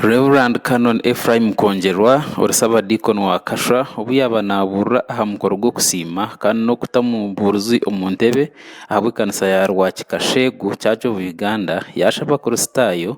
Rev Canon Ephraim Nkongerwa ori Ssabadiikoni wa Kashwa obu yaaba naabuurira aha mukoro gw'okusiima kandi n'okutamu buurizi omu ntebe ahabw'ekanisa ya Rwakika Sheegu Church of Uganda, yaashaba Abakristaayo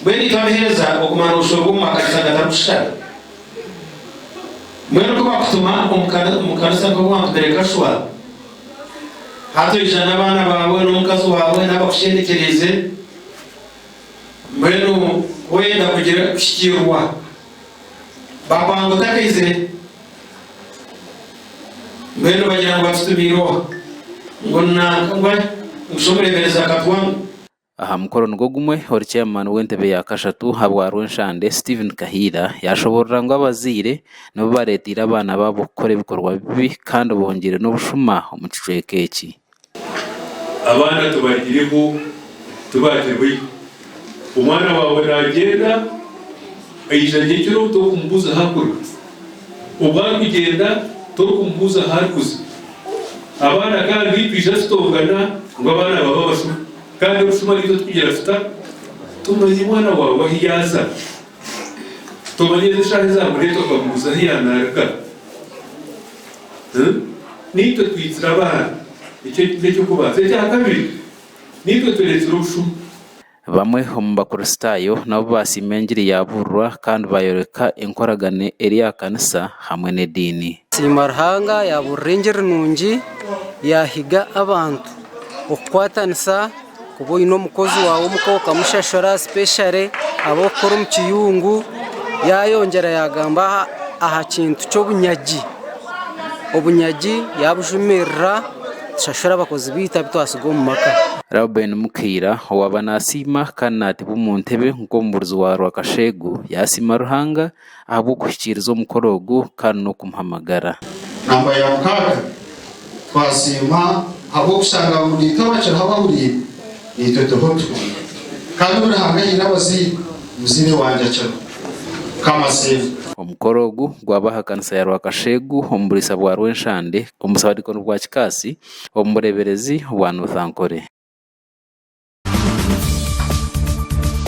Mbwenu itwe abaheereza okumara obushoro bw'omu maka Rushanga tarikushitara? Mbwenu ku bakutuma omu kanisa nk'oku wantumire kashwa, hati oija n'abaana baawe n'omukazi waawe n'abakushendekyeriize, mbwenu ku oyenda kugira kuhikiirwa, bakwanga otakaizire? Mbwenu bagira ngu batutumiire oha? Ngu nanka, ngu shi omureeberezi akatwanga? Aha mukoro nigwo gumwe, ori Chairman w'entebe ya kashatu ha bwa Rwenshande, Steven Kahiira, yaashoboorora ngu abazaire nibo bareeteire abaana baabo kukora ebikorwa bibi kandi bongyeire n'obushuma omu kicweka eki. Abaana tubagireho tibaagirehoihi. Omwana waawe naagyenda, aija nyekiro obu, torikumuguzaho akura. Obu arikugyenda torikumubuuza ahu arikuza. Abaana agandi twija tutongana ngu abaana baba abashuma kandi obushuma naitwe tubugira tuta? Tomanya omwana waawe ahu yaaza. Tomanya n'eshaaha ezi amureeta okamubuuza ahu yaanarika. Naitwe twiitsire abaana. Ekyo n'eky'okubanza. Ekya kabiri, naitwe tureetsire obushuma. Bamwe omu Bakristaayo nabo baasiima engiri yaabuurirwa kandi baayoreka enkoragane eri aha kanisa hamwe n'ediini. Siima Ruhanga yaabuurira engiri nungi yaahiga abantu okukwatanisa. Kuba oine omukozi waawe omuka okamushashura sipeshare abu orikukora omu kiyungu, yaayongyera yaagamba aha kintu ky'obunyagi, obunyagi yaabujumirira. Tushashura abakozi baitu abu twatsiga omu maka. Reuben Mukaira owaaba naasiima kandi naatebwa omu ntebe nk'omubuurizi wa Rwakasheegu yaasiima Ruhanga ahabw'okuhikiiriza omukoro ogu kandi n'okumuha amagara. Namba ya mukaaga, Twasiima ahabw'okushanga abahuriire twabacuraho abahuriire naitwe tuha otuhuri. Kandi obu Ruhanga ahaire abazaire, omuzaire wangye akira. Mukama asiimwe. Omukoro ogu gwaba aha kanisa ya Rwakasheegu omu buriisa bwa Rwenshande omu Busaabadinkoni bwa Kikaasi omu bureeberezi bwa North Ankole.